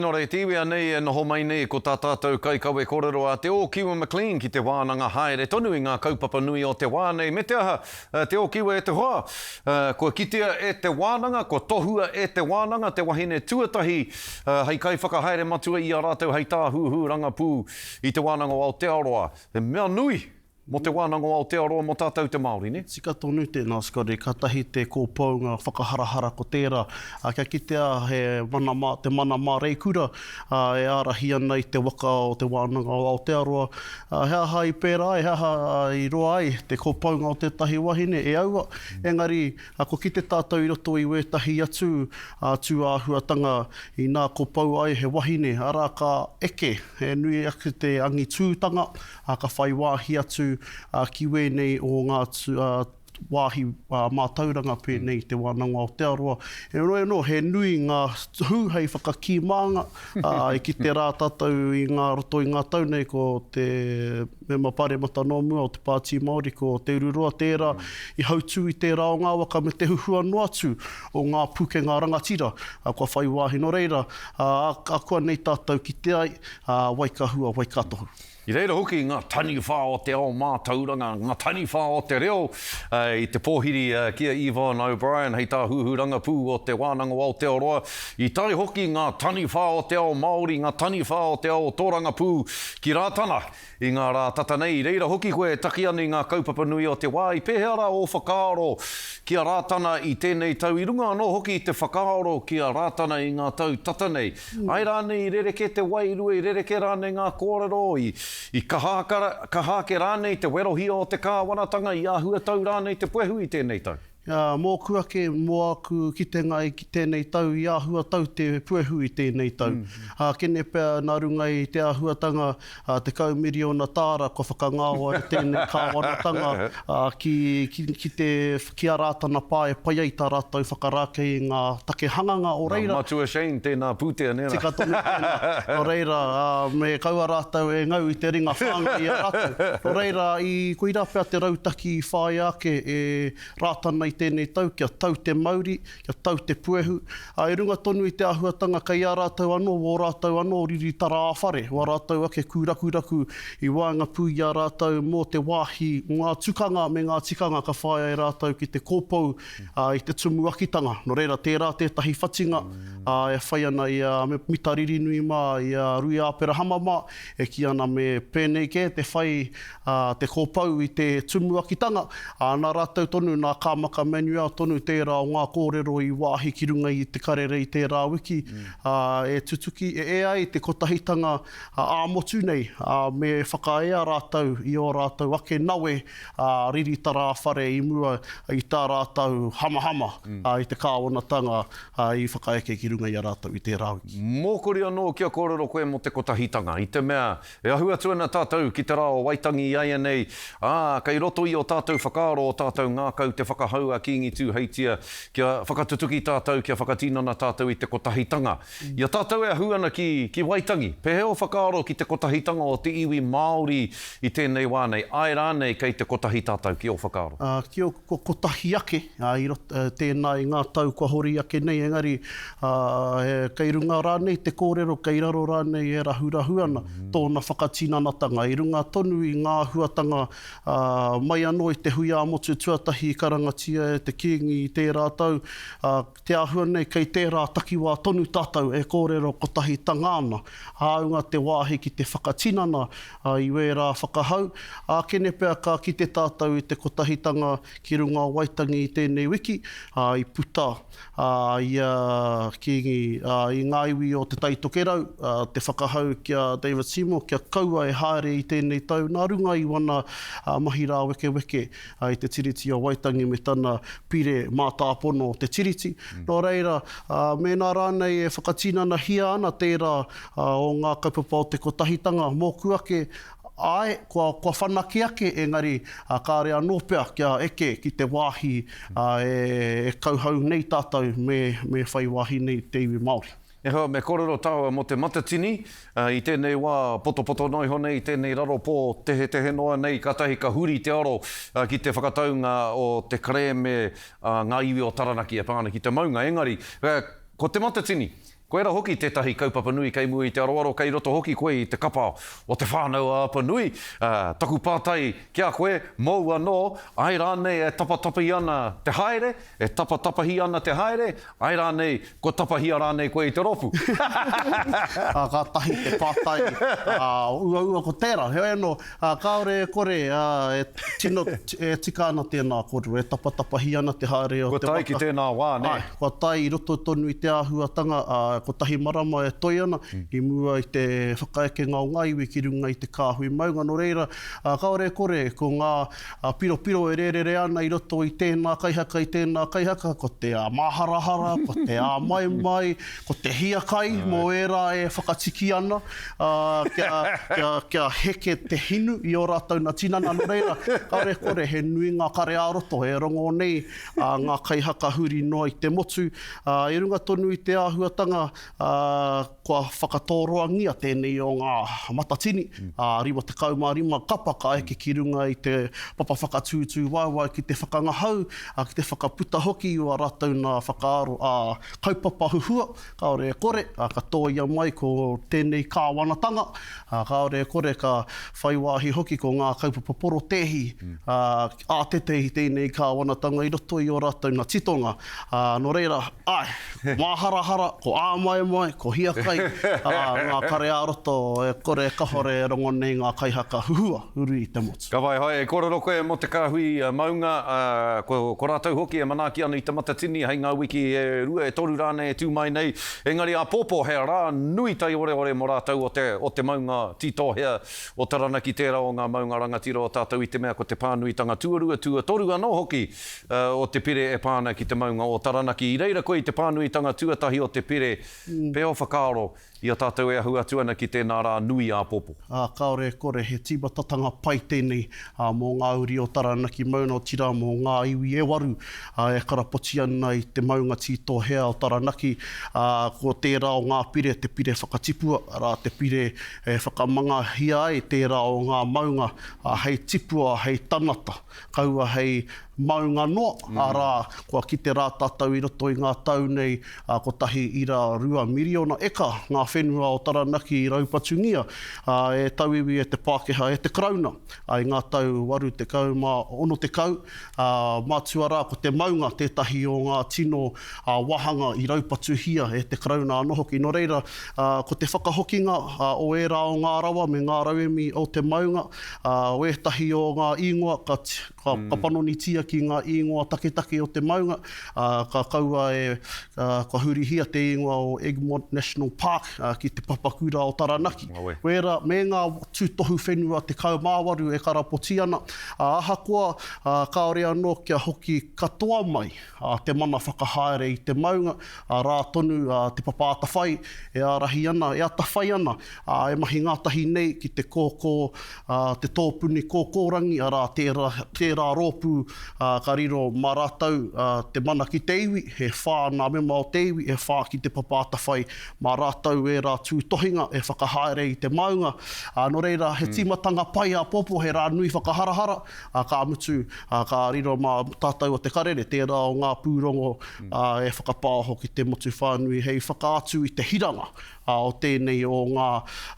Nō reira, te iwi anei e noho mai nei ko tā tātou kaikawe kōrero a Te Ōkiwa McLean ki te wānanga haere tonu i ngā kaupapa nui o te wā nei, me te aha, Te Ōkiwa e te hoa, kua kitea e te wānanga, kua tohua e te wānanga te wahine tuatahi hei kaiwhakahaere matua i a rātou hei tāhuhu rangapū i Te Wānanga o Aotearoa, he mea nui. Mo te Wānanga o Aotearoa mo tātou te Māori, nē? Tika tonu tēnā Scotty, katahi te kōpounga whakaharahara ko tērā. Kia kitea he mana mā, te mana māreikura e ārahi ana i te waka o te Wānanga o Aotearoa, he aha i pērā ai, he aha i roa ai te kōpounga o tētahi wahine e aua, engari ko kite tātou i roto i wētahi atu tūāhuatanga inā kōpou ai he wahine, arā ka eke he nui ake te angitūtanga ā, ka whai wāhi atu ki wēnei o ngā wāhi mātauranga pēnei i Te Wānanga o Aotearoa. Heoi anō, he nui ngā hū hei whakakī mānga, ā, i kite rā tātou i ngā roto i ngā tau nei ko te Mema Pāremata nō mua o te Pāti Māori, ko Te Ururoa tērā i hautū i tērā o ngā waka me te huhua noa atu o ngā pūkenga rangatira kua whai wāhi. Nō reira, ā, akuanei tātou kite ai, ā, Waikahua, Waikatohu. I reira hoki ngā taniwha o te ao mātauranga, ngā taniwha o te reo i te pōhiri ki a Yvonne O'Brien hei Tāhuhu Rangapū o Te Wānanga o Aotearoa. I tae hoki ngā taniwha o te ao Māori, ngā taniwha o te ao tōrangapū ki Rātana i ngā rā tata nei. I reira hoki koe e taki ana i ngā kaupapa nui o te wā, i pēhea rā ō whakaaro ki a Rātana i tēnei tau, i runga anō hoki i te whakaaro ki a Rātana i ngā tau tata nei? Ai rānei i rerekē te wairua, i rerekē rānei ngā kōrero, i, i kaha, kaha ake rānei te werohia o te Kāwanatanga, i āhuatau rānei te puehu i tēnei tau? Ā, mōku ake, mō āku kitenga i tēnei tau, i āhuatau te puehu i tēnei tau. Ā, kene pea nā runga i te āhuatanga, ā, tekau miriona tāra kua whakangao ai tēnei kāwanatanga, ā, ki, ki, ki te, ki a Rātana Pā e pai ai tā rātou whakarākei i ngā take hanganga, o reira. Nā Matua Shane tēnā pūtea, nē rā? Tika tonu tēnā. Nō reira, ā, me kaua rātou e ngau i te ringa whāngai i a rātou. Nō reira, i, koirā pea te rautaki i whāia ake e Rātana i tēnei tau kia tau te mauri, kia tau te puehu, ā, i runga tonu i te āhuatanga kei a rātou anō, wō rātou anō riri tara-ā-whare, wā rātou ake kūrakuraku i waenga pū i a rātou mō te wāhi, mō ngā tukanga me ngā tikanga ka whāia e rātou ki te kōpou, ā, i te tumuakitanga. Nō reira, tērā tētahi whatinga, ā, e whai ana i a Mita Ririnui mā, i a Rui Āperahama mā, e kī ana me pēnei kē te whai, ā, te kopou i te tumuakitanga, ā, nā rātou tonu, nā Kāmaka Manuel tonu tērā o ngā kōrero i wāhi ki runga i Te Karere i tērā wiki, ā, e tutuki, e ea ai te kotahitanga ā-motu nei, ā, me whakaea rātou i ō rātou ake nawe, ā, riri tarāwhare i mua i tā rātou hamahama, ā, i te kāwanatanga, ā, i whakaeke ki runga i a rātou i tērā wiki. Mōkori anō kia kōrero koe mō te kotahitanga, i te mea, E ahu atu ana tātou ki te rā o Waitangi iaianei, ā, kei roto i ō tātou whakaaro ō tātou ngākau te whakahau a Kīngi Tūheitia kia whakatutuki tātou, kia whakatinana tātou i te kotahitanga. I a tātou e ahu ana ki, ki Waitangi, pēhea ō whakaaro ki te kotahitanga o te iwi Māori i tēnei wā nei, āe rānei kei te kotahi tātou ki ō whakaaro? Ā, ki ō, kua kotahi ake. Ā, i roto i tēnā, i ngā tau kua hori ake nei, engari, ā, kei runga rānei te kōrero, kei raro rānei e rahurahu ana tōna whakatinanatanga, i runga tonu i ngā āhuatanga, ā, mai anō i te hui ā-motu tuatahi i karangatia e te Kīngi i tērā tau, ā, te āhua nei kei tērā takiwā tonu tātou e kōrero kotahitanga ana, hāunga te wāhi ki te whakatinana, ā, i wērā whakahau, ākene pea ka kite tātou i te kotahitanga Ki runga o Waitangi i tēnei wiki, ā, i puta a ia Kīngi i ngā iwi o Te Tai Tokerau, te whakahau ki a David Seymour kia kaua e haere i tēnei tau nā runga i wana mahi rāwekeweke i te Tiriti o Waitangi me tana pire mātāpono o te Tiriti. Nō reira, mēnā rānei e whakatinanahia ana tērā o ngā kaupapa o te kotahitanga mōku ake, Āe, kua, kua whanake ake, engari, ā, kāore anō pea kia eke ki te wāhi, ā, e, e kauhau nei tātou me, me whai wāhi nei te iwi Māori. E hoa, me kōrero tāua mō Te Matatini, ā, i tēnei wā potopoto noa iho nei, tēnei raro pō tehetehe noa nei, kātahi ka huri te aro, ā, ki te whakataunga o te kerēme a ngā iwi o Taranaki e pā ana ki te maunga, engari, ā, ko Te Matatini, Koira hoki tētahi kaupapa nui kei mua i te aroaro kei roto hoki koe i te kapa o Te Whānau-a-Apanui, ā, taku pātai ki a koe, mōu anō, ae rānei e tapatapi ana te haere, e tapatapahi ana te haere, ae rānei, kua tapahia rānei koe i te rōpū? Ā, kātahi te pātai, ā, uaua ko tērā. Heoi anō, Ā, kāore e kore, ā, e tino, e tika ana tēnā kōrero, e tapatapahi ana te haere o te waka. Kua tae ki tēnā wā, nē? Āe, kua tae i roto tonu i te āhuatanga, ā, kotahi marama e toe ana, i mua i te whakaekenga o ngā iwi ki runga i te kāhui maunga, nō reira, ā, kāore e kore, ko ngā piropiro e rērere ana i roto i tēnā kaihaka, i tēnā kaihaka, ko te āmāharahara, ko te āmaimai, Ko te hiakai mō ērā e whakatiki ana, ā, kia, kia, kia heke te hinu i ō rātou nā tinana. Nō reira, kare kore, he nui ngā kare-ā-roto e rongō nei ā ngā kaihaka huri noa i te motu. Ā, i runga tonu i te āhuatanga, ā, kua whakatōroangia tēnei o ngā matatini, ā, 55 kapa ka eke ki runga i te papa whakatūtū waewae ki te whakangahau, ā, ki te whakaputa hoki i ō rātou nā whakaaro, ā, kaupapa huhua, kāore e kore, ā, ka tōia mai ko tēnei kāwanatanga, ā, kāore e kore ka whai wāhi hoki ko ngā kaupapa porotēhi, ā, ātete i tēnei kāwanatanga i roto i ō rātou nā titonga. Ā, nō reira, āe, ko māharahara, ko āmaemae, ko hiakai, ā, ngā kare ā-roto e kore e kahore e rongo nei ngā kaihaka huhua, uru i te motu. Ka whai hai, e kōrero koe mō te kāhui maunga, ā, ko, ko rātou hoki e manaaki ana i te matatini hei ngā wiki e rua, e toru rānei e tū mai nei. Engari āpōpō, he rā nui taiorēore mō rātou o te, o te maunga Tītōhea o Taranaki, tērā o ngā maunga rangatira o tātou i te mea ko te pānuitanga tuarua, tuatoru anō hoki, ā, o te pire e pā ana ki te maunga o Taranaki. I reira koe i te pānuitanga tuatahi o te pire, pea o whakaaro, I a tātou e ahu atu ana ki tēnā rā nui āpopo. Ā, kāore e kore, he tīmatatanga pai tēnei, ā, mō ngā uri o Taranaki Mauna, otirā mō ngā iwi e waru, ā, e karapoti ana i te maunga tītohea o Taranaki, ā, ko tērā o ngā pire te pire whakatipua, arā, te pire e whakamangahia ai tērā o ngā maunga, ā, hei tipua, hei tanata. Kaua hei maunga noa, arā, kua kite rā tātou i roto i ngā tau nei, ā, kotahi ira rua miriona eka ngā whenua o Taranaki i raupatungia, ā, e tauiwi, e te Pākehā, e te Karauna, ā, i ngā tau waru tekau mā ono tekau, ā, mātua rā ko te maunga tētahi o ngā tino, ā, wāhanga i raupatuhia e te Karauna anō hoki. Nō reira, ā, ko te whakahokinga, ā, o ērā o ngā rawa me ngā rauemi o te maunga, Ā, wētahi o ngā īngoa, ka, ka, ka panonitia ki ngā īngoa taketake o te maunga, ā, ka kaua e, ā, kua hurihia te īngoa o Egmont National Park, ā, ki te papakura o Taranaki. Ngawe. Wēra, me ngā tūtohu whenua 18 e karapoti ana, ā, ahakoa, ā, kāore anō kia hoki katoa mai. a te mana whakahaere i te maunga, arā tonu te papa atawhai e ārahi ana, e atawhai ana e mahi ngātahi nei ki te kōkō, te tōpuni kōkōrangi, arā, tērā rōpū ka riro mā rātou te mana ki te iwi, e whā ngā mema o te iwi, e whā ki te papa atawhai mā rātou ērā tūtohinga e whakahaere i te maunga. Nō reira, he tīmatanga pai āpōpō, he rā nui whakaharahara, ā, ka mutu, ā, ka riro mā tātou o Te Karere, tērā o ngā pūrongo, ā, e whakapāoho ki te motu whānui hei whakaatu i te hiranga, ā, o tēnei o ngā,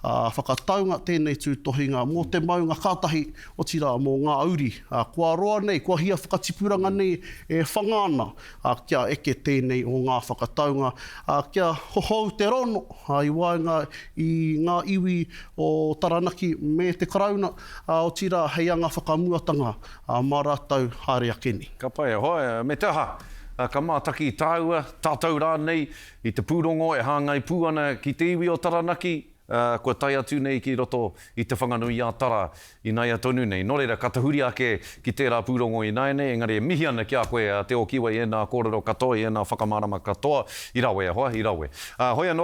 ā, whakataunga, tēnei tūtohinga mō te maunga ka tahi, otirā, mō ngā uri, ā, kua roa nei, kua hia whakatipuranga nei e whanga ana, ā, kia eke tēnei o ngā whakataunga, ā, kia hohou te rono, ā, i waenga i ngā iwi o Taranaki me te Karauna, Ā, otirā, hei anga whakamuatanga, ā, mā rātou haere ake nei. Ka pai, hoi, me te aha? Ka mātaki tāua, tātou rānei, i te pūrongo e hāngai pū ana ki te iwi o Taranaki, ā, kua tae atu nei ki roto i Te Whanganui-ā-Tara ināia tonu nei. Nō reira, ka tahuri ake ki tērā pūrongo ināianei, engari e mihi ana ki a koe, a Te Ōkiwa, i ēnā kōrero katoa, i ēnā whakamārama katoa, i rawe, hoa, i rawe. Ā, hoi anō.